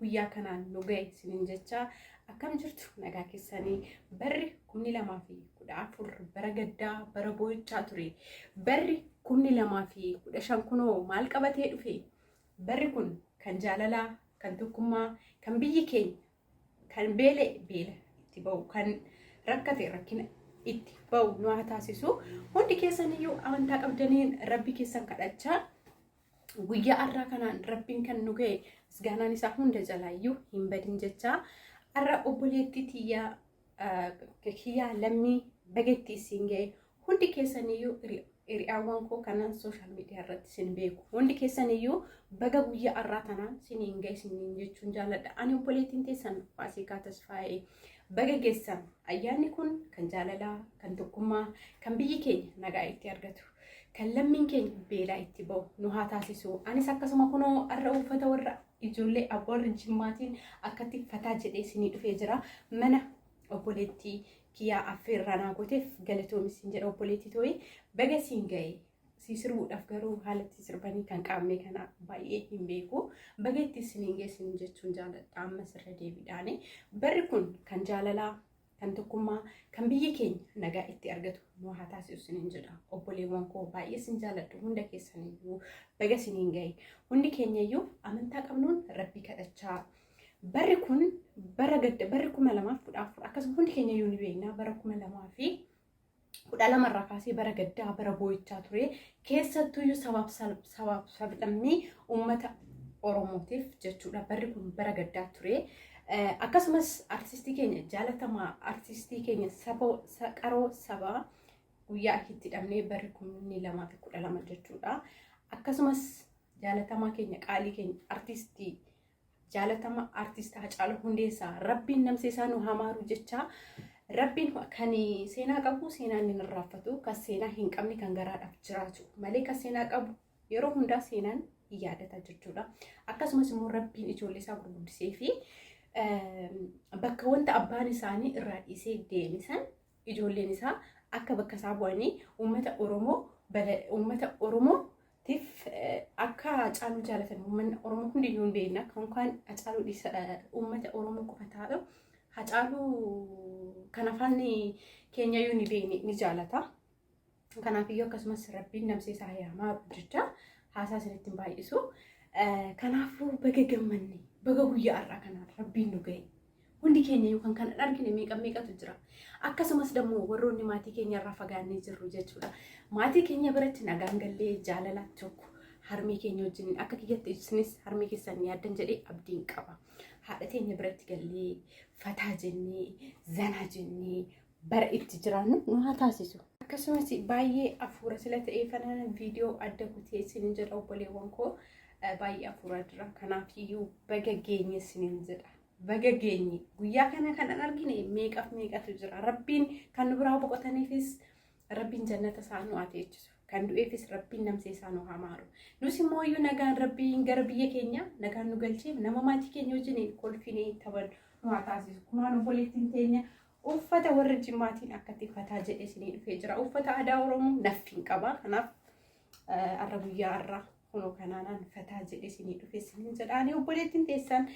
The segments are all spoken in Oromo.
guyyaa kanaan nu ga'e isiniin jecha akkam jirtu nagaa keessanii barri kumni lamaa fi kudha afur bara gaddaa bara boo'ichaa ture barri kumni lamaa fi kudha shan kunoo maal qabatee dhufe barri kun kan jaalalaa kan tokkummaa kan biyyi keenya Kan beela'e beela itti ba'u, kan rakkate rakkina itti ba'u nu haa taasisu. Hundi keessan iyyuu amantaa qabdaniin rabbi keessan kadhachaa guyyaa har'aa kanaan rabbiin kan nu ga'e misgaanaan isaa hunda jalaa iyyuu hin badin jechaa har'a obboleettii tiyyaa kiyyaa lammii baga itti isin ga'e hundi keessaniyyuu hiriyaawwan koo kanan sooshaal miidiyaa irratti isin beeku hundi keessaniyyuu baga guyyaa har'aa tanaan siniin ga'e siniin jechuun jaaladha ani obboleettiin teessan faasikaa tasfaa'ee baga geessan ayyaanni kun kan jaalalaa kan tokkummaa kan biyyi keenya nagaa itti argatu kan lammiin keenya beelaa itti ba'u nu haa taasisu anis akkasuma kunoo har'a uffata warra Ijoollee Abboo Warra Jimmaatiin akkatti fataa jedhee isinii dhufee jira. Mana obboleettii kiyyaa affeerraa naa gooteef galatoomi siin jedha obboleettii tooyi baga siin ga'e. Sii sirbuudhaaf garuu haala itti sirbanii kan qaamne kana baay'ee hin beeku. Baga itti isiniin geessin jechuun jaaladha ammas irra deebiidhaani. Barri kun kan jaalalaa, kan tokkummaa kan biyyi keenya nagaa itti argatu nu haa taasisu sinin jedha obboleewwan koo baay'ee sin jaaladhu hunda keessaniyyuu baga siniin gahe hundi keenyayyuu amantaa qabnuun rabbii kadhachaa barri kun bara gadda barri kuma lamaaf kudha afur akkasuma hundi keenyayyuu ni beekna bara kuma lamaa fi kudha lama irraa kaasee bara gaddaa bara boo'ichaa ture keessattuyyuu sabaaf sal- sabaaf sablammii uummata oromootiif jechuudha barri kun bara gaddaa ture Eh, akkasumas artistii keenya jaalatamaa artistii keenya saba sa- qaroo sabaa guyyaa itti hidhamnee barri kumni lamaa fi kudha lama jechuudha akkasumas jaalatamaa keenya qaalii keenya artistii jaalatama artiist Hacaaluu Hundeessaa rabbiin namsee isaa nu haa maaru jechaa rabbiin kan seenaa qabu seenaa inni hin irraanfatu kan seenaa hin qabne kan garaadhaaf jiraatu malee kan seenaa qabu yeroo hundaa seenaan hin yaadata jechuudha. Akkasumas immoo rabbiin ijoollee isaa gurguddisee fi bakka wanta abbaan isaanii irraa dhiisee deeme san ijoolleen isaa akka bakka isaa bu'anii uummata Oromoo uummata Oromoo tiif akka Hacaaluu jaalatan uummanni Oromoo hundi hin beekna. Kan kaan Hacaaluu dhiisa uummata Oromoo qofa taa'u. Hacaaluu kan afaan keenya iyyuu ni beekne ni jaalata. Kanaaf iyyuu akkasumas rabbiin namsee isaa yaamaa jecha haasaa isinitti hin baay'isu. Kanaafuu baga gammanne baga guyyaa har'aa kanaan rabbiin nu ga'e. Hundi keenya yookaan kan hin argine meeqa meeqatu jira. Akkasumas dammoo warroonni maatii keenya irraa fagaannee jirru jechuudha. Maatii keenya biratti nagaan gallee jaalala tokko harmee keenya wajjin akka kiyyatti isinis harmee keessan yaaddan jedhee abdiin qaba. Haadha teenya biratti gallee fataa jennee zanaa jennee bara itti jiraannu nu haa taasisu. Akkasumas baay'ee afuura sila ta'ee kanaan viidiyoo adda kutee isin jedha obboleewwan koo baay'ee afuura jira. Kanaaf iyyuu baga geenye isiniin jedha. Baga geenye guyyaa kana kan an argine meeqaf meeqatu jira. Rabbiin kan nu biraa boqotaniifis rabbiin jannata isaa nu haa teechisu. Kan du'eefis rabbiin namsee isaa nu haa maaru. Nus immoo iyyuu nagaan rabbiin gara biyya keenya nagaan nu galchee nama maatii keenya wajjin kolfinee taphannu nu haa taasisu. Kunaan obboleettiin teenya Uffata warra jimmaatiin akkatti fataa jedhee isinii dhufee jira. Uffata aadaa Oromoo naffiin qaba. Kanaaf arra guyyaa arra kunoo kanaanaan fataa jedhee isinii dhufee isiniin jedha. Ani obboleettiin teessan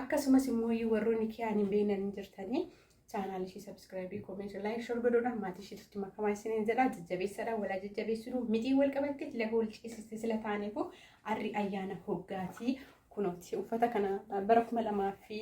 akkasumas immoo warroonni kiyaan hin beeknan jirtanii chaanaalii ishee sabiskiraayibii koomeetii laayik shor godhuudhaan maatii isheetti makamaa isiniin jedha. Jajjabeessadha walaa jajjabeessuudhu mitii wal qabattee sila hool ciisiste sila taaneefu arri ayyaana hoggaatii kunooti uffata kana bara kuma lamaa fi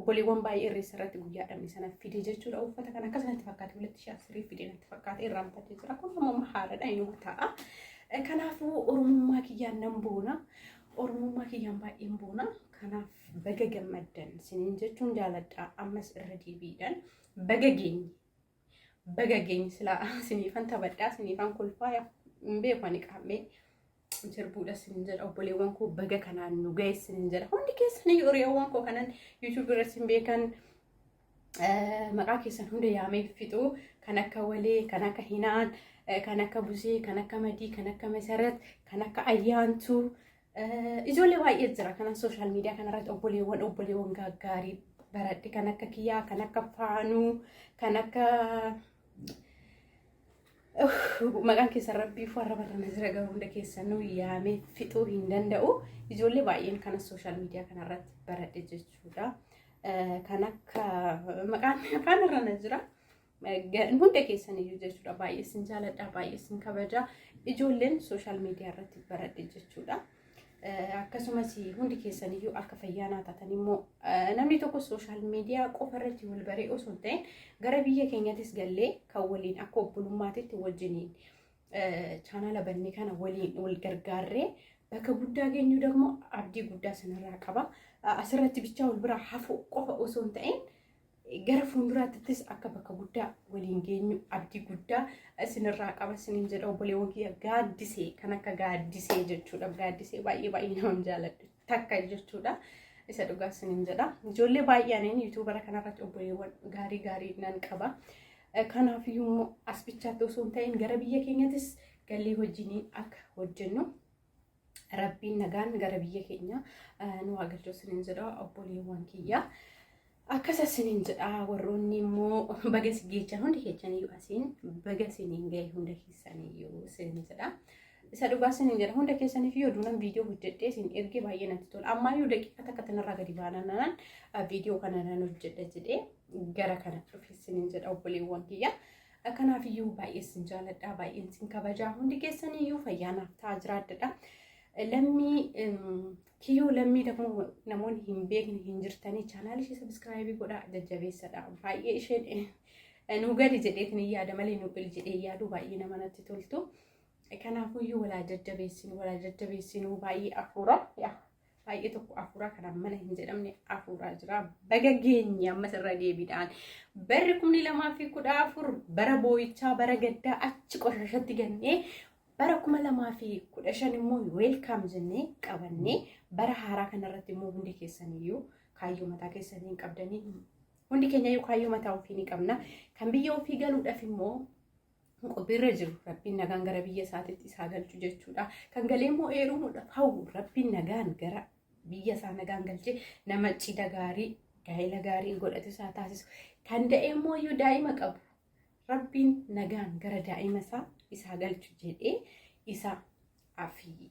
Obboleewwan baay'ee irreessa irratti guyyaa dhabne sana fide jechuudha. Uffata kan akkas natti fakkaate walitti shaasirii fide natti fakkaate irraa bitatee jira. Kun amma haaradha inuma ta'a. Kanaafuu oromummaa kiyyaan nan boona. Oromummaa kiyyaan baay'een boona. Kanaaf baga gammaddan siniin jechuun jaaladha. Ammas irra deebiidhaan baga geenye. Baga geenye silaa siniifan taphadhaa siniifan kolfaa hin beeku ani qaammee sirbuudha sin jedha obboleewwan koo baga kanaan nu ga'e sin jedha hundi keessanii hiriyoowwan koo kanan yuutuubii irratti sin beekan maqaa keessan hunda yaamee fixu kan akka walee kan akka hinaan kan akka busee kan akka madii kan akka masarat kan akka ayyaantuu Ijoollee baay'ee jira kanan sooshaal miidiyaa kanarratti obboleewwan obboleewwan gaggaarii baradhe kan akka kiyyaa kan akka faanuu kan akka maqaan keessan rabbii fi warra barrana jira garuu hunda keessanuu yaamee fixuu hin danda'u ijoollee baay'een kana sooshaal miidiyaa kanarratti baradhe jechuudha kan akka maqaan afaan irra na jira Hunda keessan iyyuu jechuudha baay'ee isin jaaladha baay'ee isin kabaja ijoolleen sooshaal miidiyaa irratti baradhe jechuudha. Akkasumas hundi keessan iyyuu akka fayyaanaa taatan immoo namni tokko sooshaal miidiyaa qofa irratti wal baree osoo hin ta'in gara biyya keenyattis gallee kan waliin akka obbolummaatitti wajjiniin chaanala banne kana waliin wal gargaarree bakka guddaa geenyu dammoo abdii guddaa sanarraa qaba. Asirratti bichaa wal biraa hafuu qofa osoo hin ta'in Gara fuulduraattis akka bakka guddaa waliin geenyu abdii guddaa isinirraa qaba isiniin jedha obboleewwan kiyya gaaddisee kan akka gaaddisee jechuudha. Gaaddisee baay'ee baay'ee nama jaaladhu takka jechuudha. Isa dhugaa isiniin jedha. Ijoollee baay'een yuutuubara kanarratti obboleewwan gaarii gaarii nan qaba. Kanaaf immoo as bichaatti osoo hin ta'in gara biyya keenyattis galii wajjiniin akka hojjennu Rabbiin nagaan gara biyya keenya nu haa galchu isiniin jedha obboleewwan kiyya. Akkas isiniin jedha warroonni immoo baga si geechan hundi keechaniyyuu asiin baga isiniin ga'e hunda keessaniyyuu isiniin jedha. Isa dhugaa isiniin jedha hunda keessaniif yoo duunan viidiyoo hojjedhee isin ergee baay'ee natti tola. Ammaayyuu daqiiqa takka tanarraa gadi baananaan viidiyoo kana nan hojjedha jedhee gara kana dhufe isiniin jedha obboleewwan kiyya. Kanaaf iyyuu baay'ee sin jaaladha, baay'een sin kabajaa, hundi keessan iyyuu fayyaa naaf ta'aa jiraadha. Lammii kiyyoo lammii dafuu namoonni hin beekne hin jirtanii chaanaal ishee sabiskiraayibii godhaa jajjabeessadha. Baay'ee isheen nu gadi jedheetiin hin yaada malee nu bil jedhee yaadu baay'ee nama natti toltu. Kanaafuu iyyuu walaa jajjabeessin walaa jajjabeessinuu baay'ee afuura. baay'ee tokko afuuraa kanaan mana hin jedhamne afuuraa jira. Baga geenye ammas irra deebiidhaan barri kumni lamaa fi kudha afur bara boo'ichaa bara gaddaa achi qoshashatti gannee bara kuma lamaa fi kudha shan immoo weelkaam jennee qabannee bara haaraa kanarratti immoo hundi keessaniyyuu kaayyoo mataa keessanii hin qabdanii hundi keenyayyuu kaayyoo mataa ofii ni qabna kan biyya ofii galuudhaaf immoo qophiirra jiru rabbiin nagaan gara biyya isaatitti isaa galchu jechuudha. Kan galee immoo eerumuudhaaf hawwu rabbiin nagaan gara biyya isaa nagaan galchee nama cidha gaarii gaa'ela gaarii godhatu isaa taasisu. Kan da'e immoo iyyuu daa'ima qabu rabbiin nagaan gara daa'ima isaa isaa galchu jedhee isa afii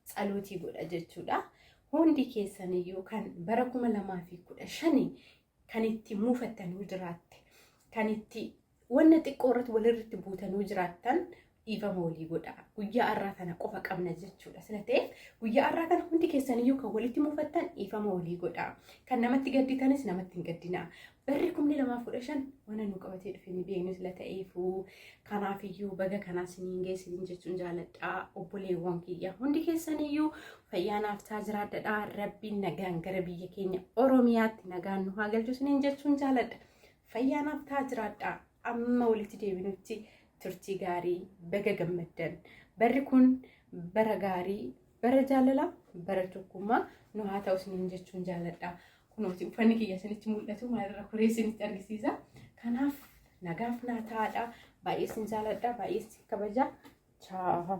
tsalootii godha jechuudha. Hundi keessan iyyuu kan bara kuma lamaa fi kudha shanii kan itti muufattanii jiraatte kan itti Wanna xiqqoo irratti walirratti buutanuu jiraattan dhiifama walii godha. Guyyaa har'aa kana qofa qabna jechuudha. Sila ta'eef guyyaa har'aa kana hundi keessaniyyuu kan walitti muufattan dhiifama walii godha. Kan namatti gadditanis namatti hin gaddina. Barri kumni lamaaf kudha shan wanna nu qabatee dhufe ni beeknu sila ta'eefuu kanaafiyyuu baga kanaa siniin geessiniin jechuun jaaladha. Obboleewwan kiyya hundi keessaniyyuu fayyaa naaf taa jiraadha. Rabbiin nagaan gara biyya keenya Oromiyaatti nagaan nu haa galchu siniin jechuun jaaladha. Fayyaa naaf ta'a jiraadha. Amma walitti deebinutti turtii gaarii baga gammaddan. Barri kun bara gaarii, bara jaalalaa, bara tokkummaa nu haa ta'u isiniin jechuun jaaladha. Kunooti uffanni kiyya isinitti mul'atu maalirra kuree isinitti argisiisa. Kanaaf nagaaf naa ta'aadha. Baay'ee isin jaaladha, baay'ee isin kabaja. Chaahaa.